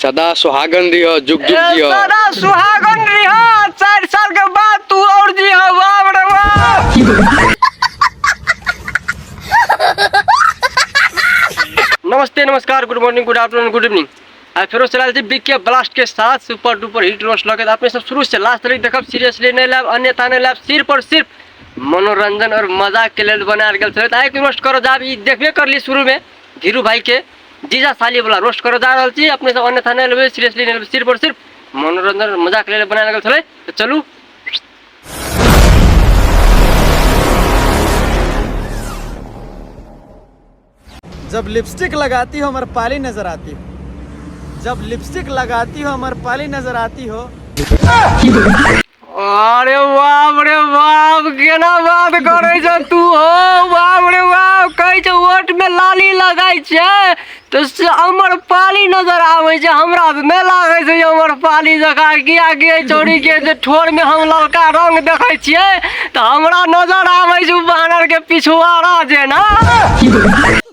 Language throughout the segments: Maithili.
सदा सुहागन रहियो जुग जुग ए, जियो सदा सुहागन रहिहा चार साल के बाद तू और जिहा बाप रे बाप नमस्ते नमस्कार good morning good afternoon good evening आ फेरो चला जी बिग के ब्लास्ट के साथ सुपर डुपर हिट रोस्ट लगे आपने सब शुरू से लास्ट तक देखब सीरियसली नहीं लाभ अन्यथा नहीं लाभ सिर्फ और सिर्फ मनोरंजन और मजाक के लेल बनायल गेल छलै तऽ आइ रोस्ट करऽ जाब ई देखबे करली शुरू में धीरू भाई के जीजा साली वाला रोस्ट करे जा रहल छी अपने सब अन्यथा नहीं लेबे सीरियसली नहीं लेबे सिर्फ और सिर्फ मनोरंजन मजाक ले बनाए लगल छले तो चलू जब लिपस्टिक लगाती हो अमर पाली नजर आती हो जब लिपस्टिक लगाती हो अमर पाली नजर आती हो अरे बाप रे बाप केना बात करै छ तू हो बाप रे बाप कहै छ वोट में लाली लगाई छै तो से अमर पाली नजर आवे छै हमरा त नै लागै छै अमर पाली जका किया कि एहि चोरी के जे ठोर में हम ललका रंग देखै छियै त हमरा नजर आबै छै बानर के पिछुआरा जेना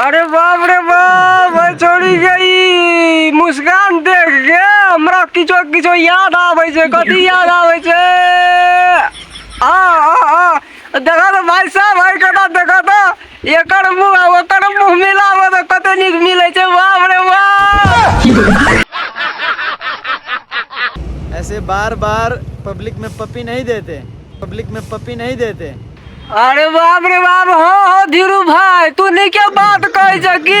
अरे बाप रे बाप भाई छोड़ी गई मुस्कान देख के हमरा किछो किछो याद आवे छे कथी याद आवे छे आ आ आ देखा तो भाई साहब भाई कटा देखा तो एकर मुंह आ ओकर मुंह मिलाबऽ तऽ कते नीक मिलै छै बाप रे बाप ऐसे बार बार पब्लिक में पपी नहीं देते पब्लिक में पपी नहीं देते अरे बाप रे बाप हो हो धीरू भाई तू नीके बात कहै छ की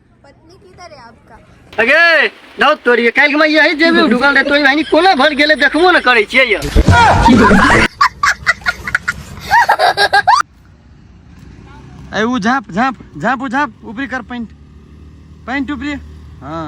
पत्नी किधर है आपका अगे दाउ तोरी काल्हि में यही जेबी ढुकल रहे तोरी बहनी कोना भर गेले देखबो न करै छियै यौ ए उ झाप झाप झाप उ झाप ऊपरी कर पैंट पैंट ऊपरी हाँ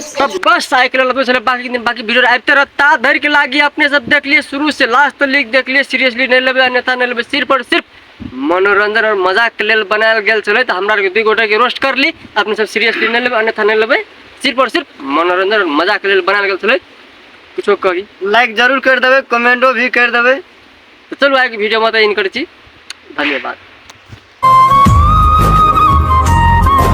सब बस साइकिल वाला पूछले बाकी दिन बाकी वीडियो आते रहता धर के लागी अपने सब देख लिए शुरू से लास्ट तक लिख देख लिए सीरियसली नहीं लेबे अन्यथा नहीं लेबे सिर्फ और सिर्फ मनोरंजन और मजाक के लेल बनायल गेल छले तो हमरा के दू गोटे के रोस्ट कर ली अपने सब सीरियसली नहीं लेबे अन्यथा नहीं लेबे सिर्फ और सिर्फ मनोरंजन और मजाक के लेल बनायल गेल छले कुछो कही लाइक जरूर कर देवे कमेंटो भी कर देवे तो चलो आगे वीडियो में तो इनकर छी धन्यवाद